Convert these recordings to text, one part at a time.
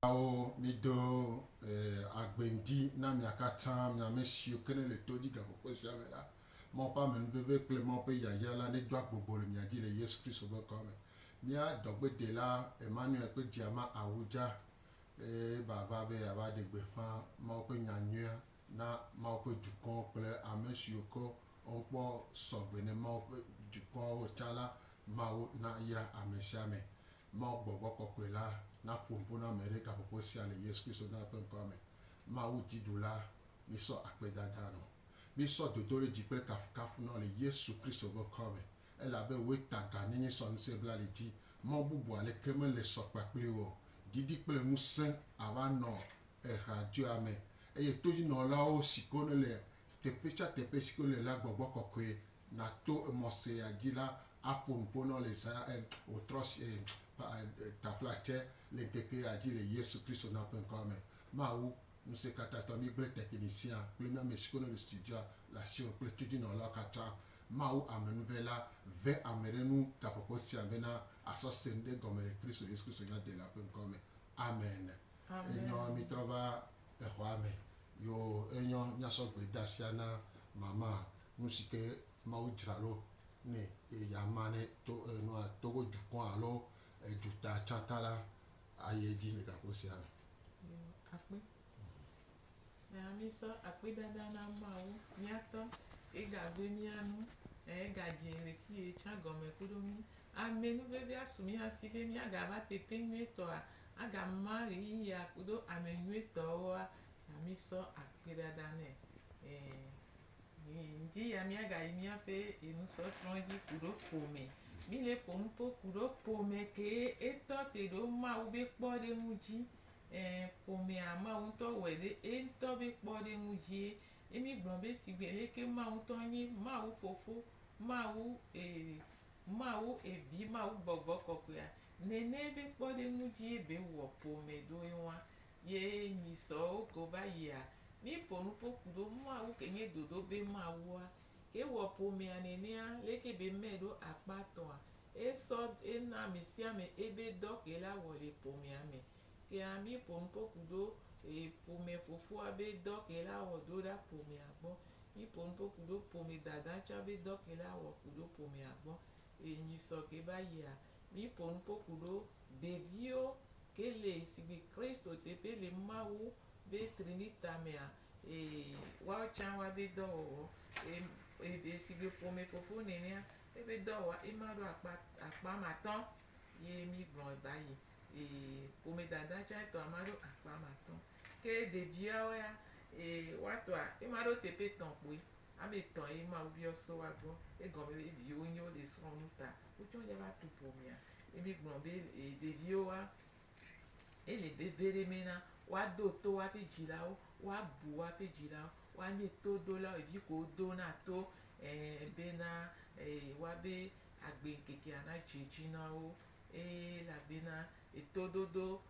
Amehawo, mido agbe ŋdi na mia katã, mi ame siwo ke nele to dzi gaƒoƒo sia me la. Mawu ƒe ame nuveve kple Mawu ƒe yayra la nedo agbogbo le mia dzi le Yesu Kristo ƒe ŋkɔa me. Mía dɔgbedela Emmanuel ƒe dziama awu dza eye eva va be yeava ɖe gbeƒã Mawu ƒe nya nyuia na Mawu ƒe dukɔ kple ame siwo ke woŋkpɔ sɔgbe ne Mawu ƒe dukɔawo o tsã la. Mawu nayra ame sia ame. Mawu gbɔgbɔ kɔkɔe la naƒo nu ƒo na ame ɖe gaƒoƒo sia le Yesu Kristo Nɔla ƒe ŋkɔa me. Mawu dziɖula, mísɔ akpedada nɔ. Mísɔ dodoɖedzi kple kafukafu nɔ le Yesu Kristo ƒe ŋkɔa me, elabe wòe ta gãnyenye sɔ ŋusẽ bla li dzi, mɔ bubu aleke mele sɔ kpakplii o. Ɖiɖi kple ŋusẽ ava nɔ eɣeadzoea me, eye todzinɔlawo si ke wonele Teƒe sia teƒe si ke wole la, gbɔgbɔ kɔkɔe nato emɔ sia dzi la aƒo nu ƒo na wo le zã em wòtrɔ si taflatse le ŋkeke ya dzi le Yesu Kristo na ƒe ŋkɔa me. Mawu, Ŋusẽkatãtɔ, mígblẽ teƒeɖi sia kple mía me si ke nele studiua le asiwò kple tudzinɔlawo katã. Mawu, Amenuve la, ve ame ɖe nu gaƒoƒo sia bena asɔ se nu ɖe gɔme le Kristo Yesu Kristo Nyadelae ƒe ŋkɔa me. Amen. Amen. Enyɔ mitrɔ va. exɔa me. Yoo, enyɔ nyasɔgbe da sia na mama nu si ke Mawu dzra ɖo ne yeama ne to nua Togo dukɔ alo duta tsã ta la ayi edzi le gaƒo sia me. Yoo, akpe. Nya mísɔ akpedada na Mawu míatɔ yegagbee mía nu eye yegadzi ɣleti ye tsã gɔme kuɖo mí. Amɛ nu vevia su mía si be míagava teƒe nyuietɔa Adam ma ɣeyiɣia kudo amɛ nyuitɔwoa ta mi sɔ akpi ɖaɖa nɛ. E mi ŋdi ya mia ga yi mia ƒe enu sɔsrɔ dzi kuɖo ƒomɛ. Mi le ƒo nupo kuɖo ƒomɛ ke e tɔ te ɖo Mawu be kpɔ ɖe ŋu dzi. E ƒomɛa Mawu ŋtɔ wɛ ɖe e ŋtɔ be kpɔ ɖe ŋu dzie. E mi gblɔ be sigbe leke Mawu ŋtɔ nye Mawu fofo, Mawu e Mawu evi, Mawu gbɔgbɔ kɔkɔea, Nɛnɛ be kpɔɖeŋu dzie be ŋwɔ po mɛ ɖo eŋwa ye nyi sɔ oko va yia. Mi po nupo kuɖo Mawu ke nye ɖoɖo be Mawua ke wɔ po mɛa nɛnɛa leke be mɛ ɖo akpa tɔa e sɔ e na amesiame ebe dɔ ke la wɔ le po mɛa me. Kea mi po nupo kuɖo e po mɛ fofoa be dɔ ke la wɔ ɖo ɖa po mɛa gbɔ. Mi po nupo kuɖo po mɛ dada tsã be dɔ ke la wɔ kuɖo po mɛa gbɔ e nyi sɔ ke va yia. Mi po nu poku ɖo ɖeviwo ke le sigbi Kristo teƒe le Mawu be Trinita mea, ee, woawo tsã woa be dɔ wɔwɔ. Ee, sigbe ƒome fofo nenea, ebe dɔ wɔwɔ ema ɖo akpa, akpa ame atɔ ye mi gblɔ ba yi. Ee, ƒome dada tsã etɔ ema ɖo akpa ame atɔ. Ke ɖeviawo ya, ee, woa tɔa ema ɖo teƒe etɔ kpoe. Ame etɔ ye Mawu biɔ so woa gbɔ. Egɔme be viwo nyo le srɔ nu ta. Wotsɔ nya va tu ƒomea. Ye mi gblɔ be ɖeviwo wa, ele veve ɖe me na woa do to woaƒe dzilawo, woa bu woaƒe dzilawo, woa nye to dolawo, ɖevi ko wo do na to ɛɛ be na woabe agbe ŋkekea na dze edzi na wo. Eye elabena etoɖoɖo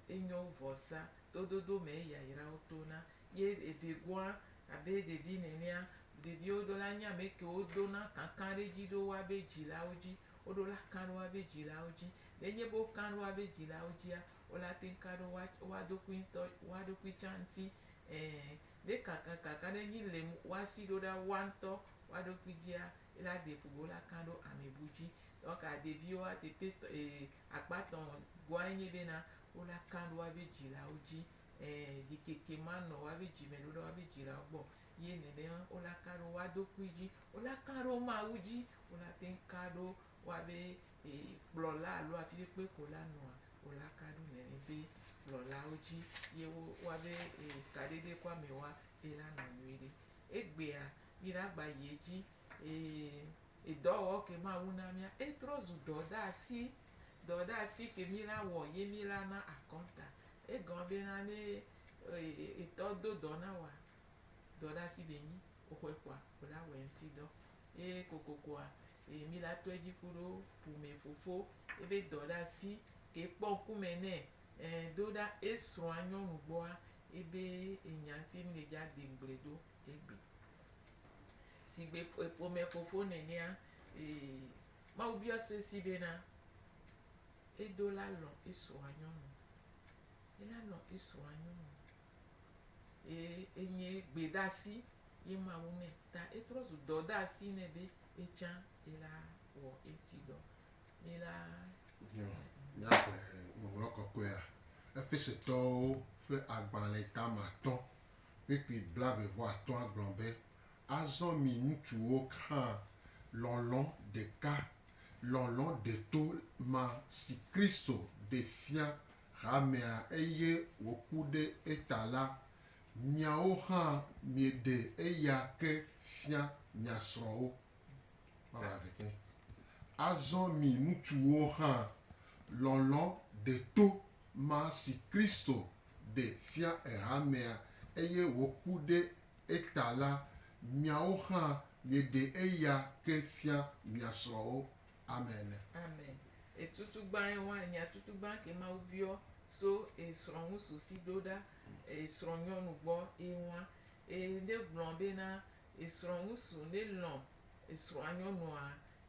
enye wo vɔsa. Toɖoɖo me yayra wo to na. ye eve goa abe ɖevi nenea. Ɖeviwo ɖo la nye ame kewo ɖona kankan ɖe edzi ɖo woabe dzilawo dzi. Woɖo la kan ɖe woabe dzilawo dzi. Ne nye be wokan ɖe woabe dzilawo dzia, wo la teŋ ka ɖe woa woa ɖokui ŋutɔ woa ɖokui tsã ŋuti. Ẽ, ne kankankankan ɖe nyi le woa si ɖo ɖa woa ŋutɔ woa ɖokui dzia, ye la ɖe ƒo be wo la kan ɖo ame bu dzi. Donc ɖeviwoa teƒe tɔ e akpa tɔ̃ goa enye bena wo la kan ɖe woabe dzilawo dzi e ɖikeke ma nɔ woabe dzi me ɖoɖa woabe dzilawo gbɔ. Ye nɛnɛ wo la ka ɖo woa dokui dzi, wo la ka ɖo Mawu dzi, wo la teŋ ka ɖo woabe e kplɔla alo afiɖe kpe ko la nɔa, wo la ka ɖo nɛnɛ be kplɔlawo dzi ye wo woabe e kaɖeɖe ku ame woa e la nɔ nyuiɖe. Egbea mi la gba yi edzi e edɔwɔwɔ ke Mawu na mia e trɔ zu dɔdasi. Dɔdasi ke mi la wɔ ye mi la na akɔnta Egɔn be na ne etɔ do dɔ na wòa, dɔ ɖe asi be nyi woxɔe kpɔa, wò la wɔe ŋuti dɔ. Ye kokokoa, e mi la tɔe dzi kuɖo ƒome fofo ebe dɔ ɖe asi ke kpɔ ŋkume nɛ. Ẽ do ɖa esrɔ̃a nyɔnu gbɔa, ebe enya ŋuti mi le dzi ade ŋugble ɖo egbe. Sigbe ƒome fofo nenea, e Mawu biɔ sue si be na. Edo la lɔ̃ esua nyɔnu. Ela lɔ̃ esua nyɔnu. Ye enye gbedasi ye Mawu nɛ. Ta etrɔ zu dɔdasi nɛ be etsã ela wɔ eŋuti dɔ. Mila. Nyo, míaxlẽ Ŋɔŋlɔ Kɔkɔea Efesetɔwo ƒe agbalẽ tame atɔ̃ kpukpui blaeve-vɔ-atɔ̃a gblɔ be, Azɔ mi ŋutsuwo hã, lɔlɔ̃ ɖeka, lɔlɔ̃ deto ma si Kristo ɖe fia hamea eye wòku ɖe eta la, miawo hã mieɖe eya ke fia mia srɔ̃wo. Azɔ mi ŋutsuwo hã, lɔlɔ̃ deto ma si Kristo ɖe fia hamea eye wòku ɖe eta la, miawo hã mieɖe eya ke fia mia srɔ̃wo. Amen. Amen. E tutu gban e wa enya tutu gban ke Mawu biɔ so e srɔ̃ ŋu susi ɖo ɖa e srɔ̃ nyɔnu gbɔ e wa. E ŋɖe gblɔ be na e srɔ̃ ŋu su ŋɖe lɔ e srɔ̃a nyɔnua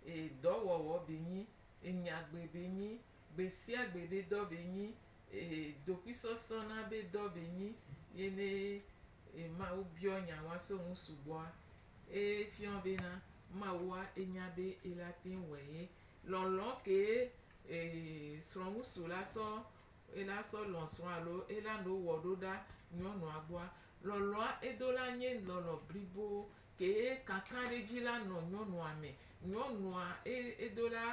e dɔ wɔwɔ be nyi, e nya gbe be nyi, gbe sia gbe be dɔ be nyi, Ee, dokuisɔsɔ na be dɔ be nyi ye ne e Mawu biɔ nya wa so ŋu sugbɔa, e fiɔ be na Mawua e nya be e la teŋ wɔe ye. Lɔlɔ kee e srɔ̃ŋusu la sɔ e la sɔ lɔ̃ srɔ̃ alo e la no wɔ ɖo ɖa nyɔnua gbɔa? Lɔlɔa e do la nye lɔlɔ blibo kee kankanɖedzi la nɔ nyɔnua me. Nyɔnua e e do la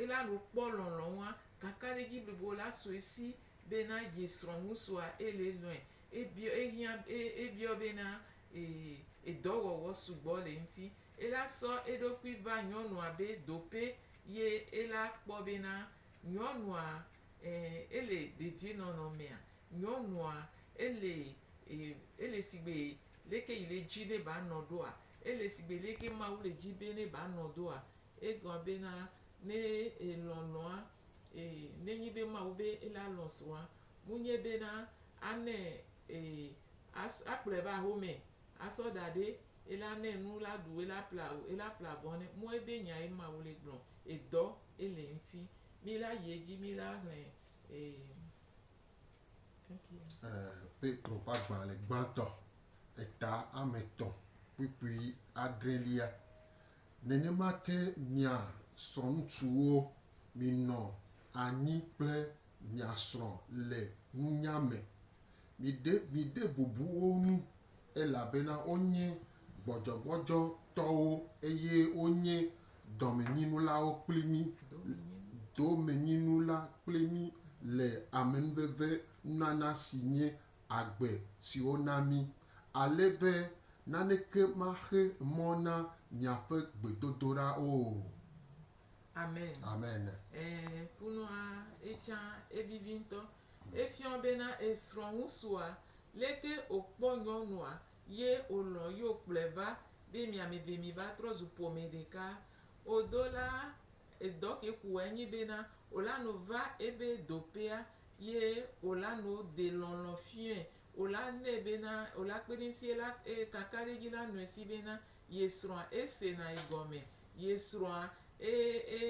Eya lo kpɔ lɔnlɔn wa kaka ɖe dzi blibo la sue si be na ye srɔ̃ ŋusua ele lɔe. Ebiɔ ehiã ebiɔ be na ee edɔ wɔwɔ sugbɔ le eŋti. Ela sɔ eɖokui va nyɔnua be dope ye ela kpɔ be na nyɔnua ee ele dedie nɔnɔ mea nyɔnua ele ee ele sigbe leke yi le dzi ne ba nɔ ɖoa ele sigbe leke mawu le dzi be ne ba nɔ doa Egɔa bena, ne elɔ̃ lɔ̃a, ee, nenyi be Mawu be ele alɔ̃ srɔ̃a, munye bena anɛ, ee, as, akplɔɛ va axome, asɔ da ɖe, ele anɛ nu, ele aɖu, ele aple awu, ele aple avɔ nɛ. Mɔ ebe nya ye Mawu le gblɔ. Edɔ ele ŋti. Mi la yi edzi, mi la hlẽ, ee. Ee, Petro ƒe agbalẽ gbãtɔ, eta ame tɔ̃ kpukpui adrelia, Nenema ke mia srɔ̃ŋutsuwo, minɔ anyi kple mia srɔ̃ le nunya me. Miɖe miɖe bubu wo ŋu, elabena wonye gbɔdzɔgbɔdzɔtɔwo eye wonye dɔmenyinulawo kpli mí, domenyinula kpli mí le amenuveve nunana si nye agbe si wona mí, ale be naneke maxe mɔ na miaƒe gbedodoɖa o. Amen. Amen. Ẽ, kunua etsã evivi ŋutɔ. Efiɔ bena esrɔ̃ ŋusua leke wòkpɔ nyɔnua ye wòlɔ̃ ye wòkplɔe va be miameve miva trɔ zu ƒome ɖeka o do la, edɔ ke ko wòanyi bena wòlano va ebe doƒea ye wò la no de lɔlɔ fiɔɛ, wò la nɛ bena, wò la kpe ɖe eŋuti ye la e kaka ɖe edzi la nɔɛ si bena ye srɔ̃a e sena yi gɔme, ye srɔ̃a e e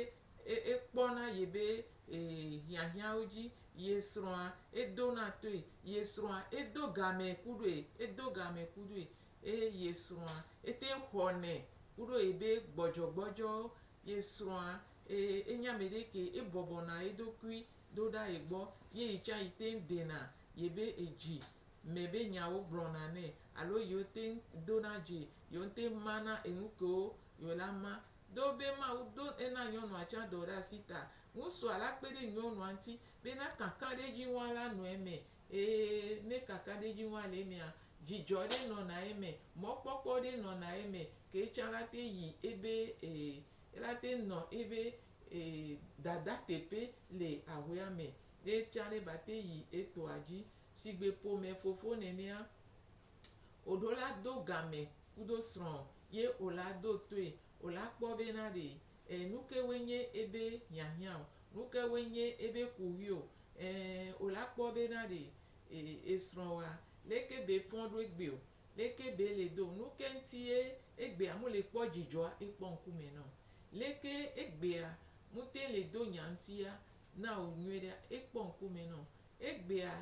e e kpɔna ye be e hiahiãwo dzi, ye srɔ̃a e dona toe, ye srɔ̃a e do gamɛ kuɖoe, e do gamɛ kuɖoe, e ye srɔ̃a e teŋ xɔnɛ kuɖo ye be gbɔdzɔgbɔdzɔwo, ye srɔ̃a e e nye ameɖe ke e bɔbɔna eɖokui do ɖa ye gbɔ ye yi tsã yi teŋ dena yebe edzi me be nyawo gblɔna nɛ alo yiwo teŋ dona dzi yewo ŋtɛ mana enu kewo yewo la ma. Do be Mawu ɖo ena nyɔnua tsã dɔ ɖe asi ta, ŋusua la kpe ɖe nyɔnua ŋti be na kakaɖedziŋua la nɔ eme. Ee, ne kakaɖedziŋua le emea, dzidzɔ ɖe nɔna eme, mɔkpɔkpɔ ɖe nɔna eme ke etsã la teŋ yi ebe ee, ela teŋ nɔ ebe Ee, dada teƒe le ahuea me. Ye tsã ɖe va te yi etɔa dzi. Sigbe ƒome fofo nenea, woɖo la do game kudo srɔ̃ ye wola do toe. Wola kpɔ be na ɖe e nuke woe nye ebe hiahiã o. Nuke woe nye ebe kuxi o. Ɛɛ, wola kpɔ be na ɖe e esrɔ̃ wa leke be fɔ̃ ɖo egbe o. Leke be le do nu ke ŋti ye egbea mu le kpɔ dzidzɔa ekpɔ ŋkume nɔ? Leke egbea mu te le do nya ŋti ya na o nyuiɖea ekpɔ ŋkume nɔ? Egbea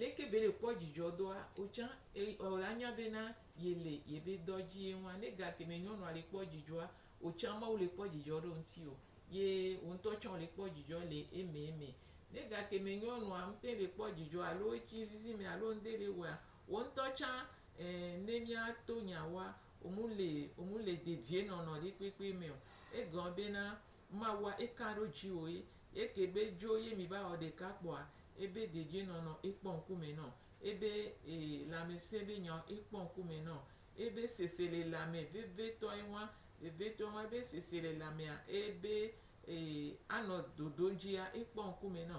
leke be le kpɔ dzidzɔ doa o tsa ɔ la nya be na ye le ye be dɔ dzi ye ŋua ne ga keme nyɔnua le kpɔ dzidzɔa o tsa Mawu le kpɔ dzidzɔ ɖo ŋti o ye wo ŋtɔ tsa o le kpɔ dzidzɔ le eme eme. Ne ga keme nyɔnua ŋte le kpɔ dzidzɔ alo etsi zizi me alo ŋde le wɔea Wò ŋutɔ tsã, ẽ, ne míato nya woa, womele, womele dedienɔnɔ ɖekpekpe me o. Egɔme bena, Mawua eka ɖo dziwò ye, ye ke be dzo ye mi va wɔ ɖeka kpɔa, ebe dedienɔnɔ ekpɔ ŋkume nɔ, ebe, e, lãmesẽ be nyawo ekpɔ ŋkume nɔ, ebe seselelãme vevitɔe wan, vevitɔe wan, ebe seselelãmea, ebe, e, anɔ dodom dzia, ekpɔ ŋkume nɔ,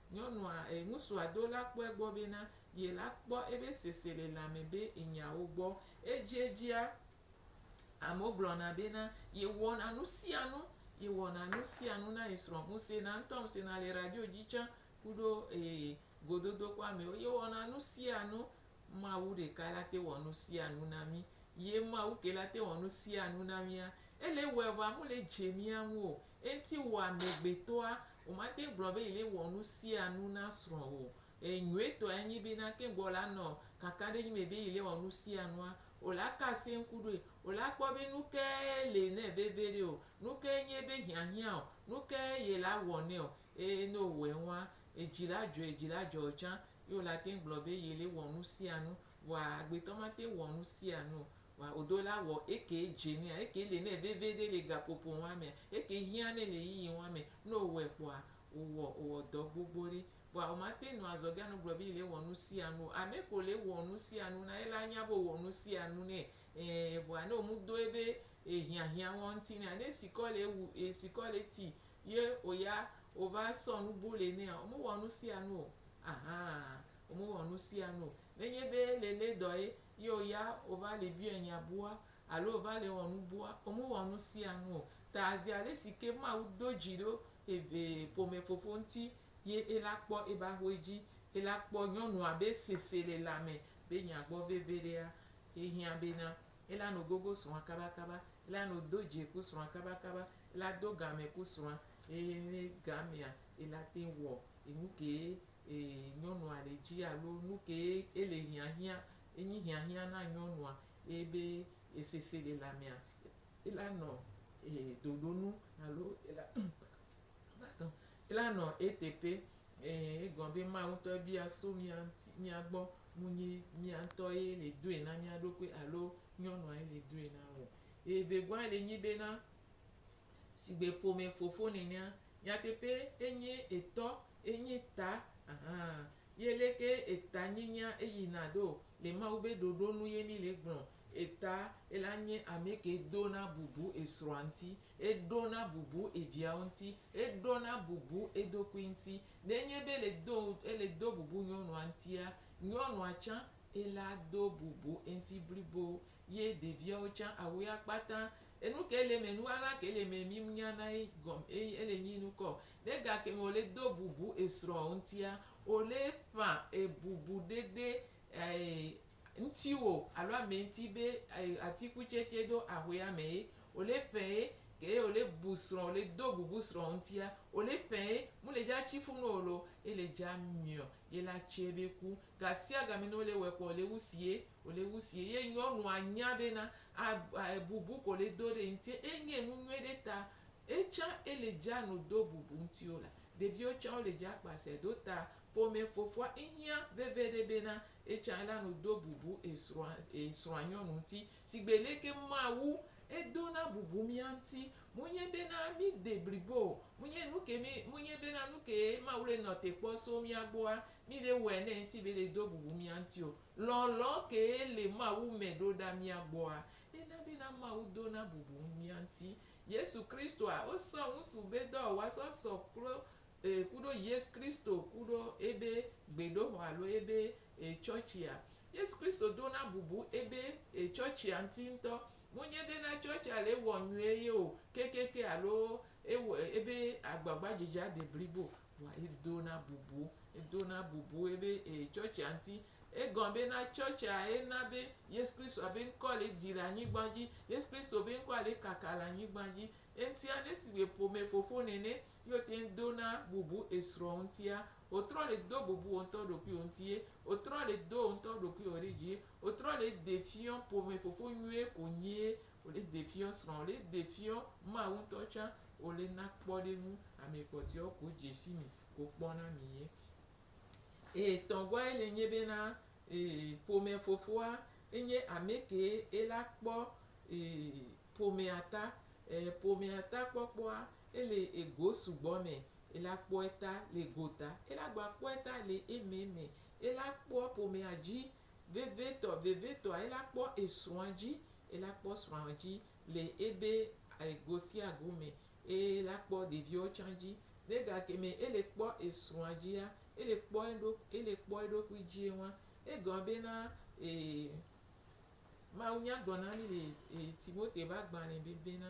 Nyɔnua, e, ŋusua do la kpɔe gbɔ bena, ye la kpɔ ebe sese le lãme be enya wo gbɔ. Edziedzia, amewo gblɔna bena, ye wɔna nusianu, ye wɔna nusianu na ye srɔ̃, ŋuse na ŋutɔ, ŋuse na le radio dzi tsã, kuɖo, e, gododokɔ amewo, ye wɔna nusianu, Mawu ɖeka la te wɔ nusianu na mi. Ye Mawu ke la te wɔ nusianu na mia, ele wɔe vɔa mu le dze mia ŋu o, Eŋti wɔ amegbetɔa, womate ŋu gblɔ be yele wɔ nu sia nu na srɔ̃ o. E, nyuietɔa enyi be na ke gbɔ la nɔ kakaɖedzi me be yele wɔ nu sia nua, o la ka asie ŋku ɖoe. O la kpɔ be nu kae le nɛ veviɖe o, nu kae nye ebe hiahiã o, nu kae yela wɔ nɛ o. E, ne o wɔe ŋua, edzi la dzɔe, edzi la dzɔ o tsã. Ye o la te ŋu gblɔ be yele wɔ nu sia nu. Vɔa agbetɔ mate ŋu wɔ nu sia nu o. Wa odo la wɔ eke djenea, eke le nɛ veveɖe le gapopo wa mea, eke hiã nɛ le yiyi wa mɛ. Nɔ owɔɛ kpɔa, owɔ owɔ dɔ gbogbo ɖe. Vɔa omate nu azɔ be anugblɔ be yi le wɔ nusianu o. Amɛ ko le wɔ nusianu na ye la anya be owɔ nusianu nɛ. Ɛɛ vɔa nɛ omu do ebe ehiãhiã wa ŋti nɛa, ne esikɔ le ewu, esikɔ le eti ye oya ova sɔ nu bo le nɛa, omu wɔ nusianu o. Ahan omu wɔ nusianu o. Ne nye be ele le dɔ ye Ye wo ya wova le biɔɛ nya bua alo wova le wɔ nu bua, wome wɔ nu sia nu o. Ta zi alesi ke Mawu do dzi ɖo eve ƒome Fofo ŋuti ye ela kpɔ ebe axɔe dzi. Ela kpɔ nyɔnua be sese le la me be nya gbɔ veviɖea, ehiã bena ela no gogo srɔ̃a kaba kaba, ela no do dzi ku srɔ̃a kaba kaba, ela do game ku srɔ̃a, eye ne gamea ela te wɔ enu ke e nyɔnua ɖe dzi alo nu kee ele hiahiã enyi hiahiã na nyɔnua eye be e seselelãmea ela nɔ e doɖo nu alo ela pardon ela nɔ eteƒe. E egɔme be Mawu ŋutɔ ebia so mía ŋuti mía gbɔ nu nyi mía ŋutɔ ye le doe na mía ɖokui alo nyɔnua ye le doe na o. Eye vegɔa le nyi bena sigbe ƒome fofo nenea nyateƒe enye etɔ enye ta ahan a, ye leke eta nyenya eyina ɖo le Mawu be ɖoɖo nu ye mi le gblɔ. Eta ela nye ameke do na bubu esrɔa ŋti, eɖo na bubu eviawo ŋti, eɖo na bubu eɖokui ŋti. Ne enye be ele do ele do bubu nyɔnua ŋtia, nyɔnua tsã ela do bubu eŋti blibo ye ɖeviawo tsã awɔe akpata. Enu ke le eme, nu ɣaɣla ke le eme mi nya na ye gɔme eye ele nyi nukɔ o. Ne gake o le do bubu esrɔ̃ ŋutia, o le ƒã ebubu ɖeɖe ɛɛ ŋutiwò alo ame ŋuti be ɛɛ atikutsetse ɖo aƒe ame ye, o le ƒɛ ye. Ke ye o le bu srɔ̃, o le do bubu srɔ̃ ŋutia, o le ƒɛ ye. Mu le dza tsi ƒu nɔ o lo. Ele dza miɔ, ye la tsɛ be ku. Gasiagame nɔ o le wɛ kɔ, o le wusi ye. Wòle wu sie ye nyɔnua nya be na a a bubu ko le do ɖe ŋuti enye nu nyuie ɖe ta etsã ele dza no do bubu ŋuti o la, ɖeviwo tsã wole dza kpa se ɖo ta ƒome fofoa ŋhiã veve ɖe be na etsã ela no do bubu esrɔ̃a esrɔ̃a nyɔnu ŋuti. Sigbe leke Mawu edo na bubu mía ŋuti monye be na mí de blibo o, monye nuke mí monye be na nuke Mawu le nɔ te kpɔ so mía gbɔa mí le wɔe nɛ ŋuti be le do bubu mía ŋuti o, Lɔlɔ kee le Mawu me ɖo ɖa mía gbɔa? Ena bena Mawu dona bubu ŋu mía ŋuti. Yesu Kristoa, wosɔ ŋusu be dɔ wòwa sɔ sɔ klo e kuɖo Yesu Kristo kuɖo ebe gbedoxɔ alo ebe e tsɔtsia. Yesu Kristo dona bubu ebe e tsɔtsia ŋuti ŋutɔ. Monye bena tsɔtsia le ewɔ nyuie ye o kekeake alo ewɔ ebe agbagba dzedzea de blibo o. Vɔa edona bubu, edona bubu be e tsɔtsia ŋuti. Egɔme be na tsɔtsia ena be Yesu Kristo be ŋkɔ le dzi le anyigba dzi. Yesu Kristo be ŋkɔa le kaka le anyigba dzi. Eŋuti ale si be ƒomefofo nene ye wote ŋu dona bubu esrɔ̃ ŋutia. Wotrɔ le do bubu wo ŋutɔ ɖokuiwo ŋuti ye. Wotrɔ le do wo ŋutɔ ɖokuiwo ɖe dzi ye. Wotrɔ le ɖe fiɔ ƒomefofo nyuie ko nyie Wòle defiɔ srɔ̃, wòle defiɔ Mawu ŋutɔ tsã, wòle na kpɔɖeŋu. Ame kpɔtɔewo ko dze si mi, ko kpɔna mi ye. Eye tɔ̃gɔae le nye be na ee ƒomefofoa enye ame kee ela kpɔ ee ƒomea ta. Ee ƒomea ta kpɔkpɔa ele ego sugbɔ me. Ela kpɔe ta le gota, ela gba kpɔe ta le eme me. Ela kpɔ ƒomea dzi Vevitɔ, vevitɔa ela kpɔ esrɔ̃a dzi, ela kpɔ srɔ̃a dzi le ebe go sia go me, eye ela kpɔ ɖeviwo tsã dzi. Le gakeme ele kpɔ esrɔ̃a dzia, ele kpɔ eɖo, ele kpɔ eɖokui dzie wan. Egɔme bena Mawu nya gblɔ na mi le Timote ƒe agbalẽ be bena,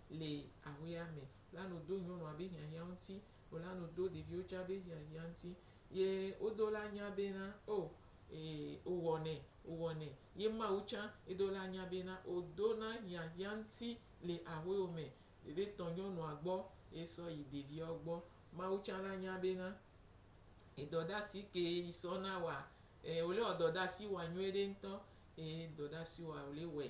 le aƒea me, la nu do nyɔnua be hiahiã ŋuti, wòla nu do ɖeviwo tsã be hiahiã ŋuti. Ye wodo la nya bena, O, ee, wòwɔnɛ, wòwɔnɛ. Ye Mawu tsã, edo la nya bena, wòdona hiahiã ŋuti le aƒewo me. Ɖevi tɔ nyɔnua gbɔ ye sɔ yi ɖeviawo gbɔ. Mawu tsã la nya bena, edɔdasi kee yi sɔ na wɔa, ee, wòle wɔ dɔdasi wɔa nyuiɖe ŋutɔ. Ee, dɔdasi wɔa wòle wɔɛ.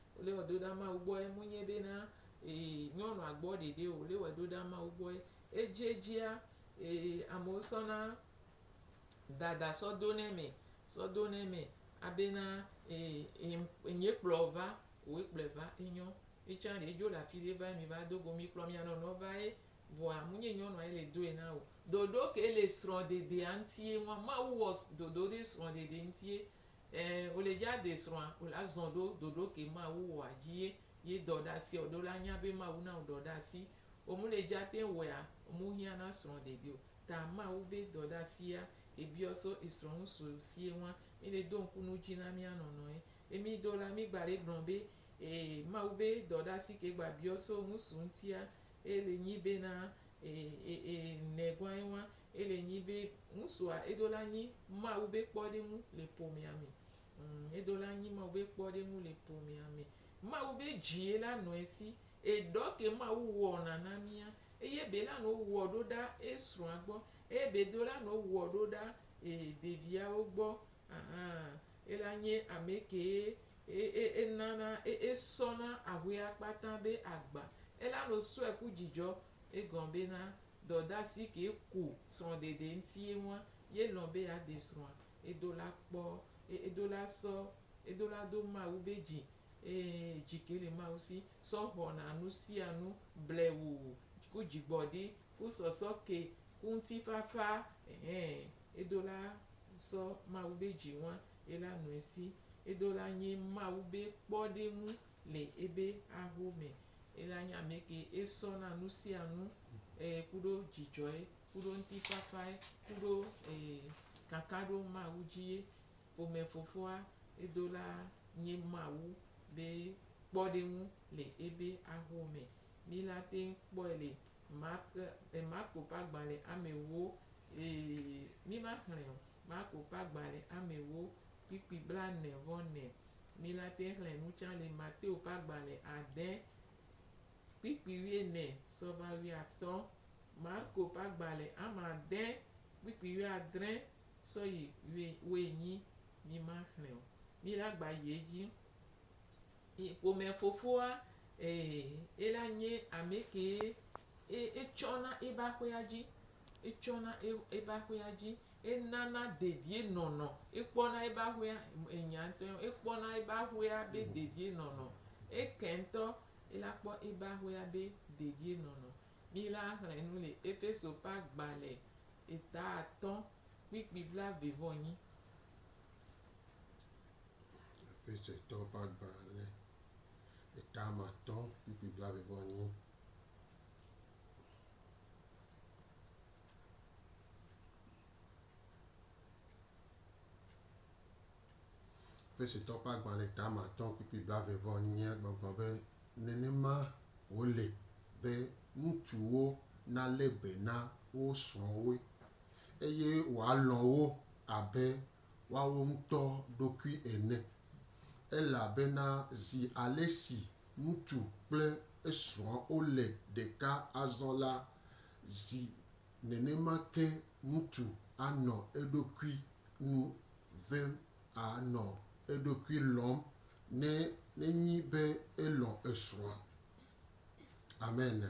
Wole wɔ do ɖa Mawu gbɔ yɛ munye be na ee nyɔnua gbɔ ɖeɖe o. Wole wɔɛ do ɖa Mawu gbɔ yɛ. Ejiejia, ee amewo sɔna dada sɔ do nɛ mɛ, sɔ do nɛ mɛ abe na ee e nyɛ kplɔ wo va. Woe kplɔɛ va. Enyɔ. Mìtsan ɖe edzo le afi ɖe va yi mìva do go. Mìkplɔ mìanɔnɔ va ye vɔa munye nyɔnua yɛ le doɛ na o. Ɖoɖo ke le srɔ̃ɖeɖea ŋti ye nua? Mawu wɔ ɖoɖo ɖe srɔ̃ɖeɖe ŋti ye Ɛ, wòle dja de srɔa, wòle azɔn ɖo doɖo ke Mawu wɔa dji ye ye dɔ ɖa si ɔ, ɖe wòle anya be Mawu na wo dɔ ɖa si. Wo mu le dja tɛn wɔɛa, wo mu hiã na srɔ dede o. Ta Mawu be dɔ ɖa sia ke biɔ so esrɔ ŋu so sie ŋua, mi le do ŋku nu dji na mia nɔnɔ ye. E mi do la, mi gba le gblɔ be, E, Mawu be dɔ ɖa si ke gba biɔ so ŋusu ŋtia, e le nyi be na e, e, e, nɛ gɔa ye ŋua, Ele nyi bé ŋusua edo la nyi Mawu bé kpɔɖeŋu le ƒomea me. Ŋ, edo la nyi Mawu bé kpɔɖeŋu le ƒomea me. Mawu bé djie la nɔ esi. Eɖɔ ke Mawu wɔna na mía. Eye be la nɔ wɔ ɖo ɖa esrɔa gbɔ. Eye be do la nɔ wɔ ɖo ɖa e ɖeviawo gbɔ. Ahan, ela nye amɛ kee e, e, enana e, esɔna ahuea kpata bé agba. Ela nɔ sɔɛ ku djidjɔ. Egɔn bé na Dɔdasi kee ku srɔ̃ɖeɖe ŋti ye ŋua ye lɔ̃ be ya de srɔ̃a edo la kpɔ eye edo la sɔ edo la do Mawu be dzi eye dzi ke le Mawu si sɔ xɔna nu sia nu blewu ku dzigbɔɖi ku sɔsɔ ke ku ŋtifafa ɛhɛ edo la sɔ Mawu be dzi ŋua ye la nɔe si edo la nye Mawu be kpɔɖeŋu. le ebe aho me, ela nye amɛke esɔ na nusianu e kuɖo djidjɔɛ kuɖo ŋtifafaɛ kuɖo e kakaɖo Mawu dji ye ƒomɛfofoa edo la nye Mawu be kpɔɖeŋu le ebe aho me. Mi la teŋ kpɔɛ le Mark e Marko ƒe agbalɛ amɛwo e mi ma xlɛ o Marko ƒe agbalɛ amɛwo kpikpi blaene vɔ nɛ. Mi la te xlẽ nu tsã le Mateo ƒe agbalẽ ade kpikpi wuiene sɔ va wuiatɔ, Marko ƒe agbalẽ ame ade kpikpi wuiadre sɔ yi wuienyi. Mi ma xlẽ o. Mi la gba yi edzi. Ƒome fofoa, e, ela nye amekee e, etsɔ na eba ƒea dzi. etsɔna eƒe aƒea dzi, enana dedienɔnɔ, ekpɔna eƒe aƒea, enya ŋutɔe ma, ekpɔna eƒe aƒea be dedienɔnɔ, eke ŋutɔ la kpɔ eƒe aƒea be dedienɔnɔ. Mí la xlẽ nu le Efeso ƒe agbalẽ eta atɔ̃ kpukpui blaeve-vɔ-enyi. Efesetɔwo ƒe agbalẽ eta ame atɔ̃ kpukpui blaeve-vɔ-enyi. Efesotɔ ƒe agbalẽ tame atɔ̃ kpukpui blaeve-vɔ-enyiɛ gbɔgblɔ be, Nenema wòle be ŋutsuwo nalé be na wo srɔ̃wo, eye woalɔ̃ wo abe woawo ŋutɔ ɖokui ene, elabena zi ale si Ŋutsu kple esrɔ̃a wole ɖeka azɔ la, zi nenema ke ŋutsu anɔ eɖokui nu vem, anɔ eɖokui lɔ̃m, ne nenyi be elɔ̃ esrɔ̃a. Amen.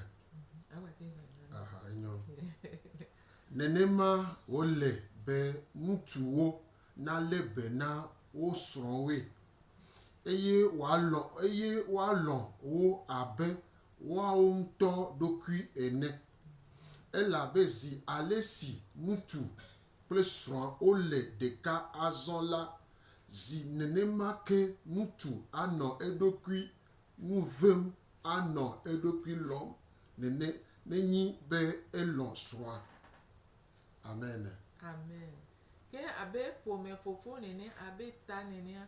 Aha, enyo. Nenema wòle be ŋutsuwo nalé be na wo srɔ̃woe, eye wòalɔ̃ eye woalɔ̃ wo abe woawo ŋutɔ ɖokui ene. Elabe zi ale si ŋutsu kple srɔ̃a wole ɖeka azɔ la, zi nenema ke ŋutsu anɔ eɖokui nu ʋẽm anɔ eɖokui lɔ̃m nene nenyi be elɔ̃ srɔ̃a. Amen. Ke abe ƒome fofo nene abe ta nenea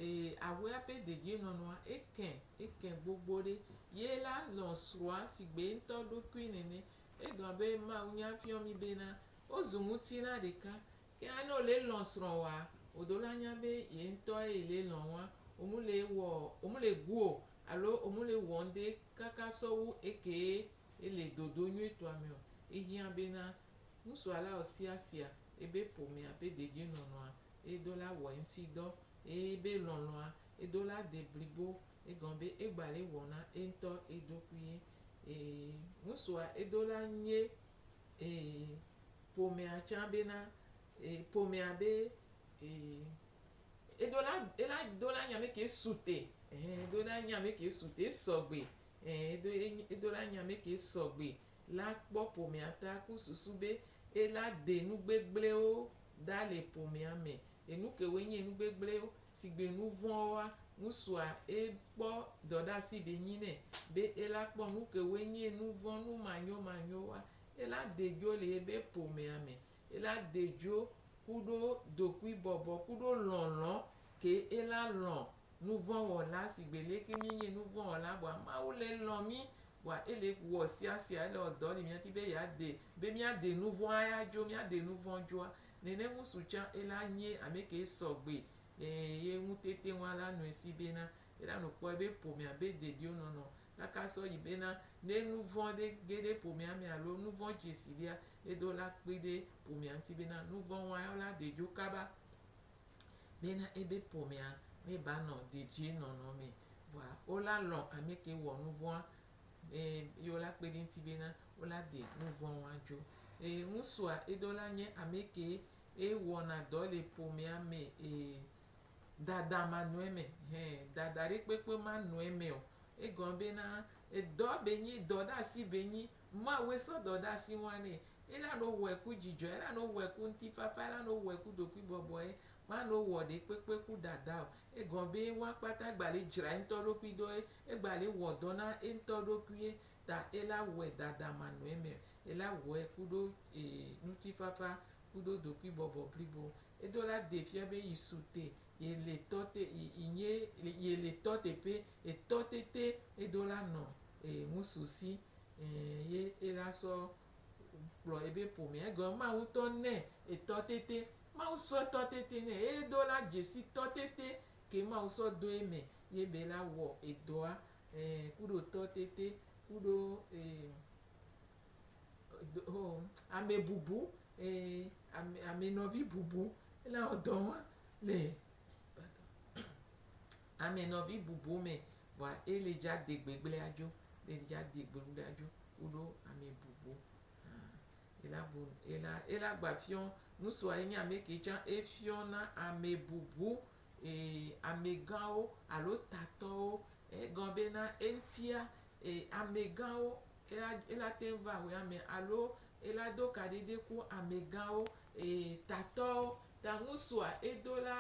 ee awea ƒe dedienɔnɔa eke eke gbogbo ɖe. Ye la lɔ̃ srɔ̃a sigbe eŋtɔ ɖokui nene. Egblɔ be mawunya fiɔ mi bena wozu ŋutilã ɖeka. Ke alene wole lɔ̃ srɔ̃woa oɖo la nya be ye ŋtɔe yi le lɔ̃ woa omu le wɔ omu le gu o alo omu le wɔ ŋɖe kaka sɔwu ekee Ele dodo nyuitɔa me ɔ, ehiã be na ŋsuala ɔ sia sia ebe ƒomea be dedienɔnɔa edo la wɔ eŋtsi dɔ eye ebe lɔlɔa edo la de blibo. Egɔme be egba le wɔ na eŋtɔ eɖokui. Ee, ŋsua edo la nye ee ƒomea tsã be na ee ƒomea be ee edo la ela do la nye amɛke sute. Ehe edo la nye amɛke sute esɔgbe Ẽ, edo e edo la nya mɛ ke sɔgbe la kpɔ ƒomea ta ku susu be e la de nu gbegblẽwo da le ƒomea me. Enu kewoe nye nu gbegblẽwo? Sigbe nu vɔ̃woa, ŋusua e kpɔ dɔɖeasi be nyi nɛ be e la kpɔ nu kewoe nye nu vɔ̃ nu manyomanyowoa, e la de dzo le ebe ƒomea me. Ela dedzo kuɖo dokuibɔbɔ kuɖo lɔlɔ̃ ke ela lɔ̃ nuvɔ̃wɔla shigbe leke mienye nuvɔ̃wɔla bua Mawu le lɔ̃ mi bua ele wɔ siasia ele wɔ dɔ li miadi be ya de be mia de nuvɔ̃ aya dzo mia de nuvɔ̃ dzoa nene ŋusu tsã ela nye ameke sɔgbe le ye ŋutete ŋua la nɔe si bena ela nokpɔe be ƒomea be dediwo nɔnɔ kaka sɔ yi bena, ne nu vɔ̃ ɖe ge ɖe ƒomea me alo nu vɔ̃ dze si ɖea, edo la kpe ɖe ƒomea ŋuti bena nu vɔ̃ wɔa la ɖe dzo kaba bena ebe ƒomea me ba nɔ dedie nɔnɔ me. Vɔa wo la lɔ̃ ame ke wɔ nu vɔ̃a ne ye wo la kpe ɖe eŋuti bena wo la ɖe nu vɔ̃ wɔa dzo. Eye ŋusua edo la nye ame ke ye wɔna dɔ le ƒomea me e Dada ma nɔe me. Hɛ, dada ɖe kpekpe ma nɔe me o. Egɔme be na, edɔ be nyi, dɔ ɖe asi be nyi. Mawue sɔ dɔ ɖe asi ŋua nɛ. Ela no wɔe ku dzidzɔe, ela no wɔe ku ŋutifafa, ela no wɔe ku ɖokui bɔbɔe. Ma no wɔ ɖe kpekpe ku dada o. Egɔme be ŋua kpata gba le dzra eŋutɔ ɖokui ɖo ye. Egba le wɔ dɔ na eŋutɔ ɖokui ye ta ela wɔe dada ma nɔe me. Ela wɔe kuɖo e ŋutifafa kuɖo ɖokui bɔbɔ blibo. Edo la de fia be yi su te ye le tɔ te yi yi nye ye le tɔ teƒe etɔ te te edo la nɔ e ŋusu si e ye e la sɔ kplɔ ebe ƒomea egɔme ma ŋutɔ nɛ etɔ te te Mawu sɔ etɔ te te nɛ eye edo la dzesi tɔ te te ke Mawu sɔ do eme ye be la wɔ edɔa e kuɖo tɔ te te kuɖo e. Amebubu, amenɔvibubu, ele wɔ dɔ ma le amenɔvibubu me vɔa ele dza de gbegble adzo, ele dza de gbegble adzo kuɖo amebubu. Ela bu, ela, ela gba fiɔ, ŋsua yi nye amɛ ke tsã efiɔ na amebubu amegãwo alo tatɔwo. Egɔ be na eŋtia E, amegãwo, ela, ela te ŋu va wɛ ame, alo ela do kaɖi ɖe ku amegãwo, e, tatɔwo, ta ŋusua edo la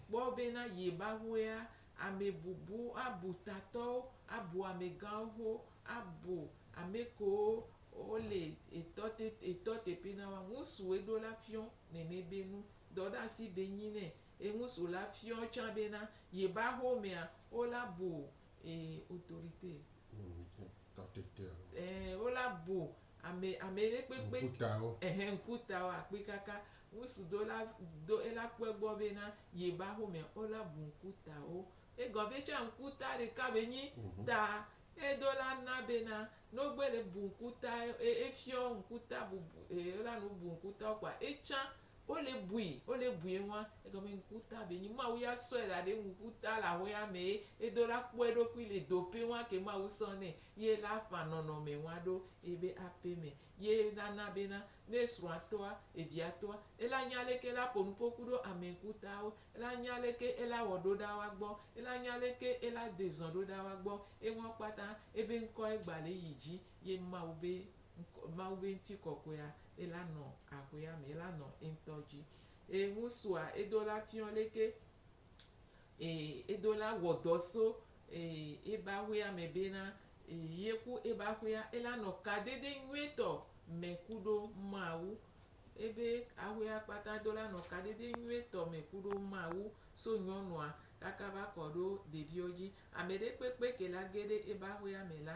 kpɔ be na ye ba ŋuea, ame bubu abu tatɔwo, abu amegãwo ho, abu amekewo wo le etɔ te, etɔ teƒe na wa. Ŋusu eɖo la fiɔ nɛnɛ be nu dɔ ɖe asi be nyi nɛ. E ŋusu la fiɔ tsã be na ye ba xomea, wo la bu et autorite. Eee wo la bo ame ameɖekpekpe. Ŋkutawo. Ehe ŋkutawo akpikaka ŋusu do la do ela kpe gbɔ be na ye ba xome o la bu ŋkutawo. Egɔ be tsa ŋkuta ɖeka be nyi ta e do la na be na no gbe le bu ŋkuta e efiɔ ŋkuta bubu e la nu bu ŋkutawo kpoa etsa Wole bui, wole bui eŋua, egɔme ŋkuta be nyi Mawu ya sɔe la ɖe ŋkuta le axɔea me ye edo la kpɔ eɖokui le do ƒe ŋua ke Mawu sɔ nɛ ye la ƒã nɔnɔme ŋua ɖo ebe aƒe me ye la na be na ne esrɔ̃a tɔa, evia tɔa, ela nya leke ela ƒo nuƒo ku ɖo ame ŋkutawo, ela nya leke ela wɔ ɖo ɖa woa gbɔ, ela nya leke ela de zɔ̃ ɖo ɖa woa gbɔ eŋua kpata ebe ŋkɔe gba le yi dzi ye Mawu be ŋkɔ, Mawu be ŋtikɔkɔea, ela nɔ ahuea me, ela nɔ eŋtɔ dzi. Eye ŋusua, edo la fiɔ leke e, edo la wɔ dɔ so e, ebe ahuea me bena e, ye ku ebe ahuea, ela nɔ kadede nyuietɔ me kuɖo Mawu. Ebe ahuea kpata do la nɔ kadede nyuietɔ me kuɖo Mawu so nyɔnua kaka va kɔɖo ɖeviɔ dzi. Ameɖekpekpe ke la geɖe ebe ahuea me la,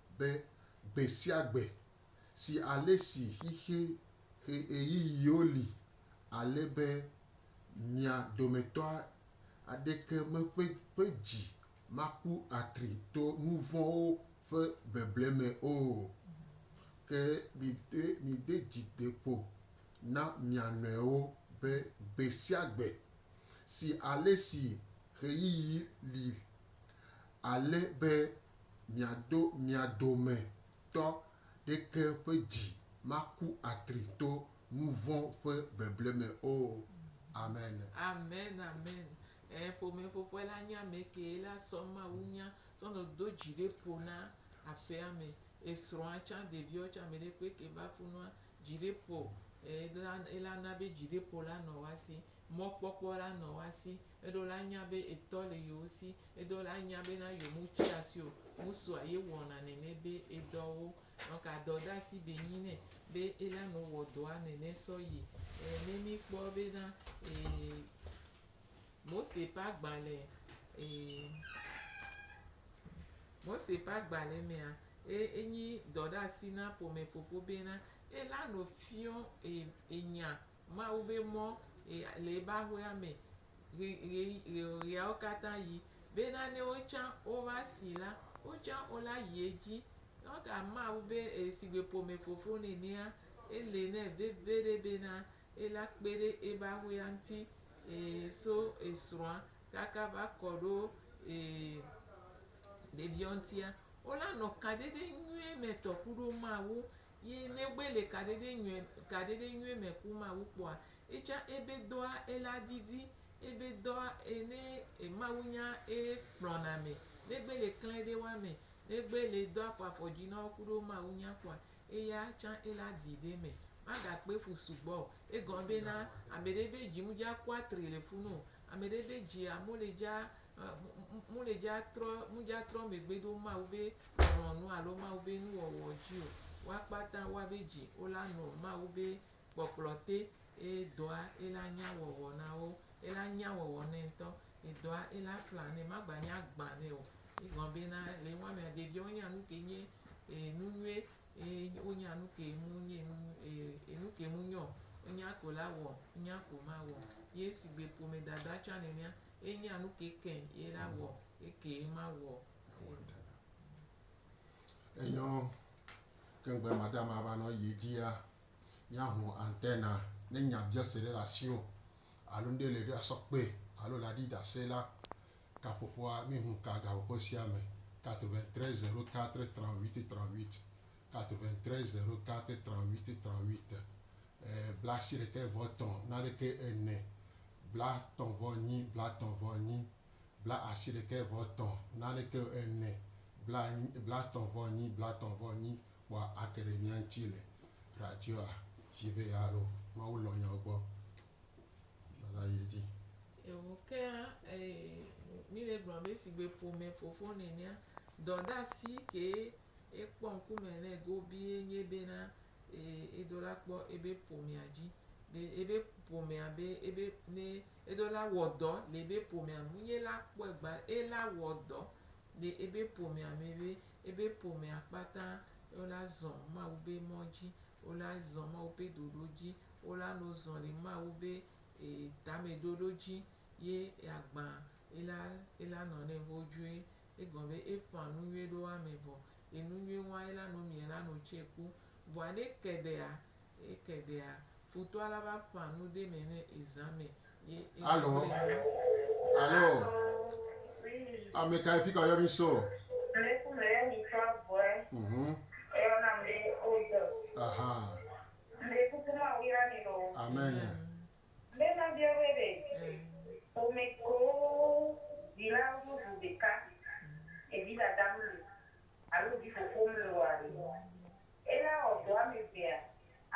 be gbe sia gbe si ale si xixi ƒe ɣeyiɣiwo li ale be mia dometɔ aɖeke meƒe ƒe dzi maku atri to nu vɔ̃wo ƒe beble me o. Ke mide mide dzi ɖe ƒo na mia nɔewo be gbe sia gbe si ale si ɣeyiɣi li ale be miado mia dometɔ ɖeke ƒe dzi maku atri to nu vɔ̃ ƒe beble me o. Amen. Amen amen e ƒome fofoe la nye ame kee la sɔ Mawu nya sɔ nɔ do dzi ɖe ƒo na aƒea me esrɔ̃a tsã ɖeviawo tsã ame ɖe kpe ke va funua dzi ɖe ƒo e la ela na be dzi ɖe ƒo la nɔ woa si mɔkpɔkpɔ la nɔ woa si Eɖo la nya be etɔ le yewo si. Eɖo la nya be na yewo mu tsia si o. Musua ye wɔna nɛnɛ be edɔ wo. Nɔka dɔ da si be nyi nɛ be ela nɔ wɔ dɔa nɛnɛ sɔ yi. E ne mi kpɔ be na e Mose ƒe agbalẽ e Mose ƒe agbalẽ mea, e enyi dɔ ɖe asi na ƒome fofo be na ela nɔ fiɔ e enya Mawu be mɔ ɣi le yi be aƒea me ɣi ɣi ɣiawo katã ɣi. Be nanewo tsã wova si la, wo tsã wo la yi edzi. Eka Mawu be esigbe ƒome fofo nenea, ele nɛ veve ɖe be na ye la kpe ɖe ebe aƒea ŋuti e so esrɔ̃a kaka va kɔ ɖo e ɖeviwo ŋutia. Wo la nɔ kadede nyuie me tɔ kuɖo Mawu Yi ne wo gbe le kaɖeɖe nyuie, kaɖeɖe nyuie me ku Mawu kpɔa, etsã ebe dɔa ela didi, ebe dɔa ene e Mawu nya e kplɔna me. Ne gbe le klɛ ɖe wa me, ne gbe le do afɔ afɔ dzi na wo kuɖo Mawu nya kpɔa, eya tsã ela di ɖe me. Ma ga kpe fu sugbɔ o. Egɔme be na, ameɖe be dzi mu dza kua tri le funu o. Ameɖe be dzi a mu le dza mudzatrɔ megbe ɖo Mawu be lɔlɔ̃nu alo Mawu be nuwɔwɔ dzi o. Woa kpata woa be dzi wo la nɔ Mawu be kpɔkplɔ te eye dɔa ye la nya wɔwɔ na wo. Ye la nya wɔwɔ nɛ ŋutɔ. Edɔa ye la fla nɛ. Ma gba nya gbã nɛ o. Ye gɔme be na le nua mea ɖevia wo nya nuke nye enu nyuie eye wo nya nuke mu nye enu nyuie e nuke mu nyo. Wo nya ko la wɔ, nya ko ma wɔ. Ye sigbe ƒome dada tsã nenea, ye nya nuke ke ye la wɔ ye ke ye ma wɔ. Enyɔ keŋgbe madama va nɔ ye dzia, mia ho antena ne nya biɔse ɖe le asio alo ŋɖe le ɖe asɔ kpe alo le aɖi dase la, kaƒoƒoa mi hu ka gaƒoƒo sia me 93 04 38 38, 93 04 38 38, e, blaasiɖekɛ vɔ tɔ̃ naɖekɛ ene. blatɔ̃-vɔ-enyi, blatɔ̃-vɔ-enyi, bla-ashi-ɖekɛ-vɔ-etɔ̃, naɖekɛ o, ene, blanyi, blatɔ̃-vɔ-enyi, blatɔ̃-vɔ-enyi, kpɔa ake ɖe mía ŋuti le radioa dzi vɛ alo Mawu lɔ̃ nyawo gbɔ. Míava yi edzi. Eho kea, e, mí le gblɔ be shigbe ƒome fofo nenea, dɔdasi kee Ekpɔ ŋkume nɛ gobie nye bena ee edo la kpɔ ebe ƒomea dzi be ebe ƒomea be ebe ne edo la wɔdɔ le ebe ƒomea me. Wonye la kpɔe gba ela wɔdɔ le ebe ƒomea me be ebe ƒomea kpata wola zɔ Mawu be mɔ dzi, wola zɔ Mawu be ɖoɖo dzi, wola no zɔ le Mawu be ee tameɖoɖo dzi ye agba ela ela nɔ nɛ vodzoe. Egɔme be eƒã nu nyuie ɖo ame vɔ, ye nu nyuie ŋua ela no mie la no tse ku. Vɔa ne eke ɖea, eke ɖea, futɔa la va ƒã nu de me ne ezã me ye ela gblẽ nu. Alo, alo, ame kae fi ka woyɔ mi Saul? Ame si me yɔ mi tso agbɔe. Mhm. Woyɔ nam be Obed. Aha. Ŋɖe kuku Mawu yra mi ɖo. Amen. Amen. Be mabia woe be, ƒome koo dzilawo meʋu ɖeka le dzidadam nu alo dzifofom nu oa ɖe? Ela wɔ dɔ ame evea?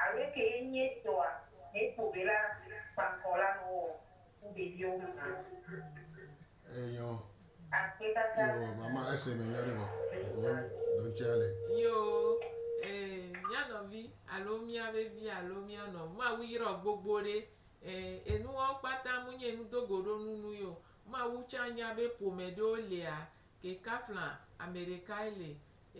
Alo ekee nye etɔa hekpɔ be ela kpa ŋkɔ la nɔwɔ wu ɖeviwo maa? Enyɔ. Akpekaka. Yoo mama ese me nyɔ ɖe vɔ. Ɖoŋtsi ale. Yoo ee mía nɔvi alo mía vevi alo mía nɔ Mawu yrɔ gbogbo ɖe. Ee enuwawo kpata mu nyi enu do go ɖo nu nu yio. Mawu tsa nya be ƒome ɖewo lea ke kafla ameɖekae le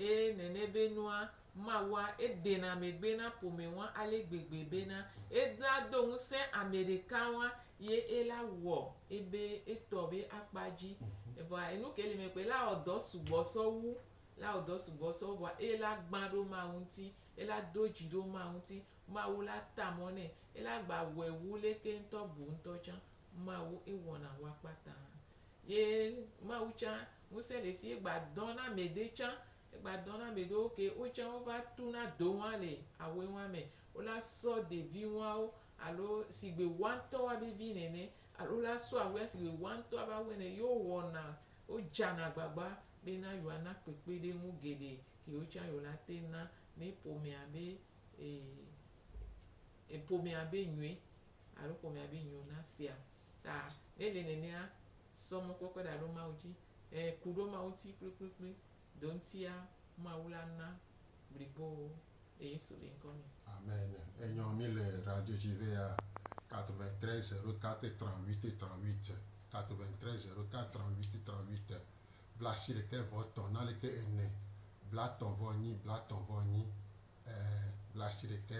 Eye nene be nua ma wa edena megbe na ƒome wa ale gbegbe bena ela do ŋusẽ ameɖeka wa ye ela wɔ ebe etɔ be akpa dzi. Evɔa enu ke li me kpe la wɔ dɔ sugbɔ sɔ wu, la wɔ dɔ sugbɔ sɔ wu vɔa eye la gbã ɖo Mawu ŋuti, ela do dzi ɖo Mawu ŋuti, Mawu la ta mɔ nɛ, ela gba wɔe wu leke ŋutɔ bu ŋutɔ tsã. Mawu ewɔna wu akpata. Ye Mawu tsã, ŋusẽ le esi egba dɔn na ame ɖe tsã, egba dɔn na ame ɖewo ke wo tsã wova tu na do ŋua le awe ŋua me. Wo la sɔ ɖevi ŋuawo alo sigbe woa ŋutɔ woa be vi nene alo wo la sɔ awea sigbe woa ŋutɔ be awɔe nene ye wo wɔna, wo dzana agbagba be na yewoa na kpekpeɖeŋu geɖe ke yewo tsã yewo la te na ne ƒomea be e, e ƒomea be nyuie alo ƒomea be nyuie wona sea. ta ele nenea sɔ mɔkpɔkpɔe ɖa ɖo Mawu dzi, ẽ, ku ɖo Mawu ŋuti kplikplikpli, do ŋutia Mawu la na blibo le Yesu be ŋkɔ me. Amen. Enyɔ mí le randjodji be ya 93 04 38 38, 93 04 38 38, blaasiɖekɛ vɔ tɔn naleke ene, blatɔn vɔ nyi, blatɔn vɔ nyi, ẽ, blaasiɖekɛ.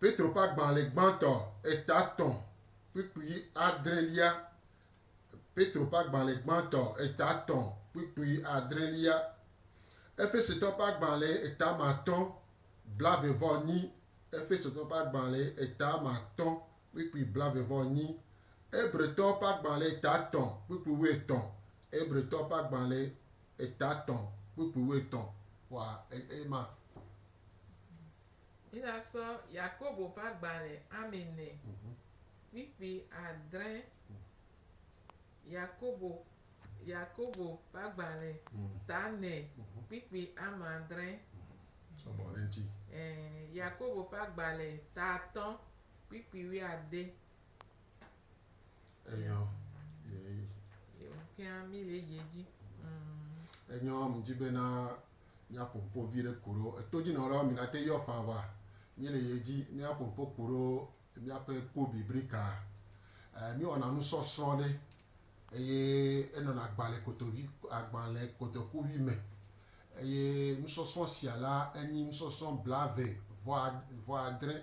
Petro ƒe agbalẽ gbãtɔ etatɔ̃ kpukpui adrelia Petro ƒe agbalẽ gbãtɔ etatɔ̃ kpukpui adrelia Efesotɔ ƒe agbalẽ etamatɔ̃ blavevɔnyi Efesotɔ ƒe agbalẽ etamatɔ̃ kpukpui blavevɔnyi Hebretɔ ƒe agbalẽ etatɔ̃ kpukpui wuietɔ̃ Hebretɔ ƒe agbalẽ etatɔ̃ kpukpui wuietɔ̃ xɔa ema. Mina sɔ Yakobo ƒe agbalẽ Ami nɛ. Kpikpi adre Yakobo Yakobo ƒe agbalẽ ta nɛ. Kpikpi ame adre. Sɔgbɔ ɖe ŋuti. Ɛɛ, Yakobo ƒe agbalẽ ta atɔ̃. Kpikpi wuiade. Enyɔ ye. Ye ŋutia mi le edzi. Mm. Enyɔ mi dzi bena Míaku ŋpo viɖe ku ɖo etodjinɔlawo mi nate yɔ fan va mi le ye dji míaku ŋpo ku ɖo míaƒe ku biblika e mi wɔna nusɔsrɔ ɖe eye enɔna agbalɛ kotovi agbalɛ kotokuvi me eye nusɔsrɔ sia la enyi nusɔsrɔ blave vɔ vɔ adre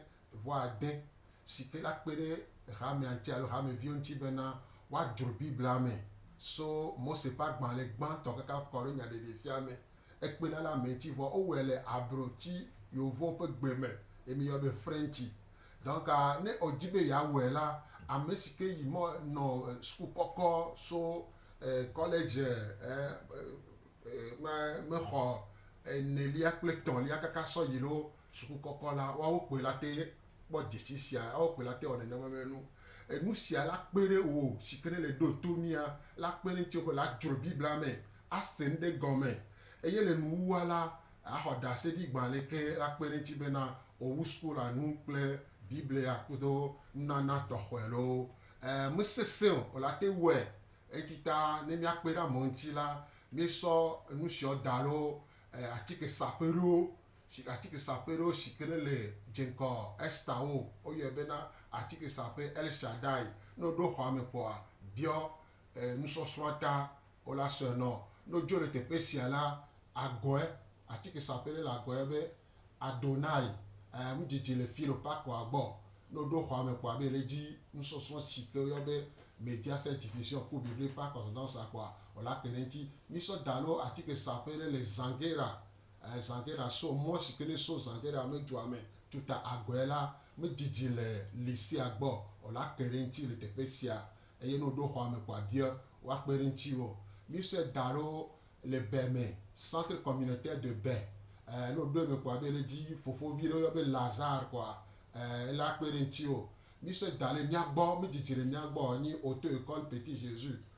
vɔ ade, si ke la kpe ɖe hamea ŋuti alo hameviwo ŋuti bena woadzro Biblia me so Mose ƒe agbalẽ gbãtɔ kaka kɔ ɖo nyaɖeɖefia me. Ekpe ɖa ɖe ame ŋuti vɔ wowɔe le abroti Yeovowo ƒe gbe me ye miyɔa be Frenchi. Donc ne odi be yeawɔe la, ame si ke yi mɔ nɔ suku kɔkɔ so kɔledzi me xɔ enelia kple etɔ̃lia kaka sɔ yi ɖo Sukukɔkɔ la, woawo kpoe la te kpɔ dzesi sia, woawo kpoe la te wɔ nenema me nu. Enu sia la kpe ɖe wò si ke nèle ɖo to mía la kpe ɖe ŋutiwò be la dzro Biblia me, ase nu ɖe gɔme, eye le nuwuwua la, axɔ ɖase ɖi gbã aleke la kpe ɖe eŋuti bena wòawu suku la nu kple Biblia kudo nunana tɔxɔe loo. E, mesesẽ o, la te wɔe. Eŋuti ta, ne míakpe ɖe amewo ŋuti la, míesɔ nusiawo da loo, e, atike saƒe ɖo si atikesaƒe ɖo si ke ne le dze ŋgɔ Ester ŋu. Woyɔe bena atikesaƒe El Shaddai. Ne woɖo xɔa me kpɔa, biɔ nusɔsrɔ̃a ta, wo la sɔe nɔ. Ne wodzo le teƒe sia la, agɔe, atikesaƒe ɖe le agɔe be Adonai, ɛɛ, nu didi le fi ɖo pakɔa gbɔ. Ne woɖo xɔa me kpɔa be le edzi nusɔsrɔ̃ si ke woyɔ be Media Set Division ku Biblia ƒe akpazɔzãwo sa kpɔa, wo la ke ɖe eŋuti. Mísɔ da ɖo atikesaƒe ɖe le Zangera Zangera sɔ mɔ si ke nesɔ Zangera me dua me tuta agɔe la medidi le Lisia gbɔ o la kpe ɖe eŋuti le teƒe sia eye ne woɖo xɔa me ko abiɔ woakpe ɖe ŋutiwo. Mísɔe da ɖo le Bɛ me, Centre Communautaire de Bɛ. Ne woɖo eme ko abe ɖe dzi fofovi ɖe woyɔ be Lazare koa ele akpe ɖe ŋutiwo. Mísɔe da ɖe mía gbɔ, medidi le mía gbɔ o, enye Auto-Ecole Petit Jesus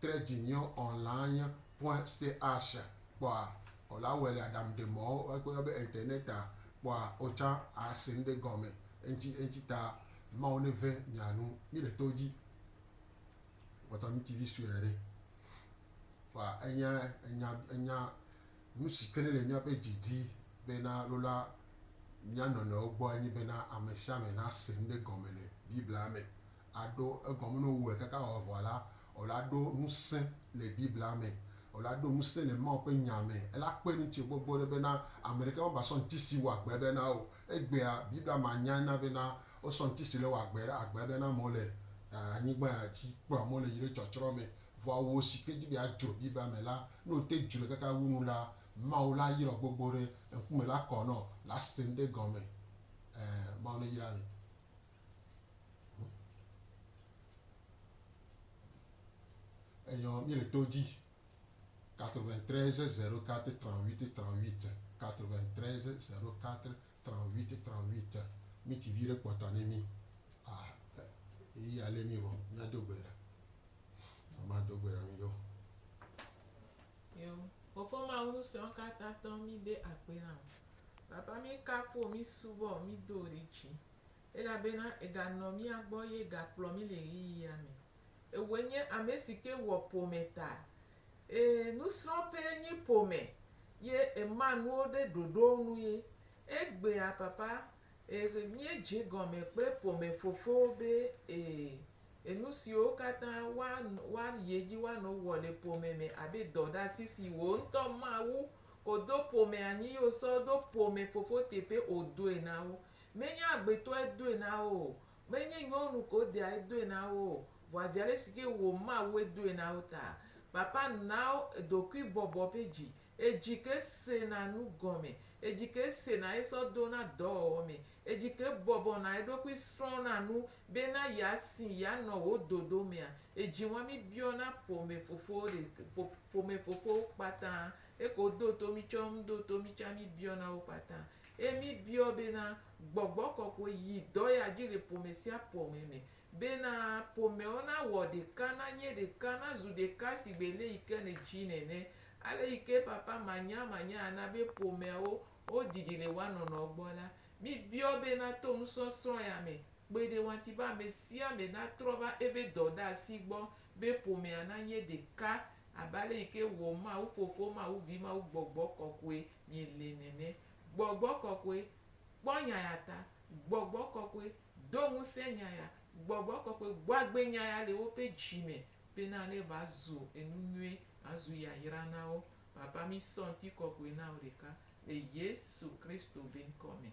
trɛ dzi nyɔ ɔn la anye point stay asha kpɔa ɔ la wɛli adam de mɔ ɔ ko yɔ be internet a kpɔa ɔ tsa a se ŋɖe gɔmɛ eŋtsi eŋtsi ta mawu ne vɛ mia nu mi ɖe to dji kpɔtɔ mi tivi suɛ ɖe kpɔa enya enya enya nusi ke ne le miaƒe dji dzi be na lola mia nɔnɔewo gbɔ enye be na amɛsiame na se ŋɖe gɔmɛ le biblia me aɖo egɔme ne wowɔe kaka wòavɔ la, wòla ɖo ŋusẽ le Biblia me, wòla ɖo ŋusẽ le Mawu ƒe Nya me. Ela kpe ɖe ŋutsu gbogbo ɖe bena ame ɖeka mavasɔ ŋuti si wɔ agbe be na o. Egbea, Biblia me anyae na bena wosɔ ŋuti si le wɔ agbe ɖe agbe be na amewo le anyigba ya dzi, kplɔ amewo le yi ɖe tsɔtsrɔ̃ me. Vɔa wò si ke di be yeadzro Biblia me la, ne wòte dzroe kaka wu nu la, Mawu la ayrɔ gbogbo ɖe, ŋkume la kɔ nɔ, la sẽŋ ɖe egɔme. Ɛ̃, Mawu neyra mi. Enyɔ mi le to dzi. 93 04 38 38 93 04 38 38 mi ti vi ɖe kpɔta ne mi. Ah, eyi ya le mi vɔ, mia do gbe ɖa. Mama do gbe ɖa mi ɖo. Yo, Fofo Mawu Ŋusẽɔkatãtɔ, mí de akpe na wò. Papa, mí kafu wò, mí subɔ wò, mí do wò ɖe dzi. elabena eganɔ mía gbɔ ye gakplɔ mí le ɣeyiɣia me. Ewɔe nye ame si ke wɔ ƒome ta. Ee, nusrɔ̃ƒee nye ƒome ye ema nuwo ɖe ɖoɖowo nu ye. Egbea papa, ee, míedze egɔme kple ƒomefofowo be, ee, enusiwo katã woanɔ, woayi edzi woanɔ wɔ le ƒome me abe dɔɖeasi si wò ŋutɔ Mawu kodo ƒomea nyi ye wosɔ ɖo ƒomefofo teƒe wòdoe na wo. Menye agbetɔe doe na wo o, menye nyɔnu ko deae doe na wo o, vɔa zi alesike wò Mawue doe na wo taa. Papa na wo ɖokuibɔbɔ ƒe dzi, edzi ke sena nu gɔme, edzi ke sena esɔ dona dɔwɔwɔ me, edzi ke bɔbɔna eɖokui srɔ̃na nu bena yeasi yeanɔ wò dodo mea, edzi ŋɔmi biɔna ƒomefofowo ɖek, ƒomefofowo kpata Eke wodo to mí tsɔ ŋu do to mí tsa mí biɔ na wo kpata. Eye mí biɔ be na gbɔgbɔ kɔkɔe yi dɔ ya dzi le ƒome sia ƒome me. Be na ƒomewo na wɔ ɖeka, na nye ɖeka, na zu ɖeka sigbe le yi ke ne dzi nene. Ale yi ke papa manya manya a na be ƒomeawo wo didi le woa nɔnɔ gbɔ la, mí biɔ be na to nusɔsrɔ̃ ya me kpe ɖe woanti be ame sia ame na trɔ va eve dɔɖasi gbɔ be ƒomea na nye ɖeka abe ale yi ke wɔ Mawu Fofo, Mawu Vi, Mawu Gbɔgbɔ Kɔkɔe mi le nene. Gbɔgbɔ Kɔkɔe, kpɔ nya ya ta. Gbɔgbɔ Kɔkɔe, do ŋusẽ nya ya. Gbɔgbɔ Kɔkɔe, gbɔ agbe nya ya le woƒe dzi me bena ne va zu enu nyui, va zu yayra na wo. Papa, mi sɔ ŋutikɔkɔe na wo ɖeka le Yesu Kristo be ŋkɔ me.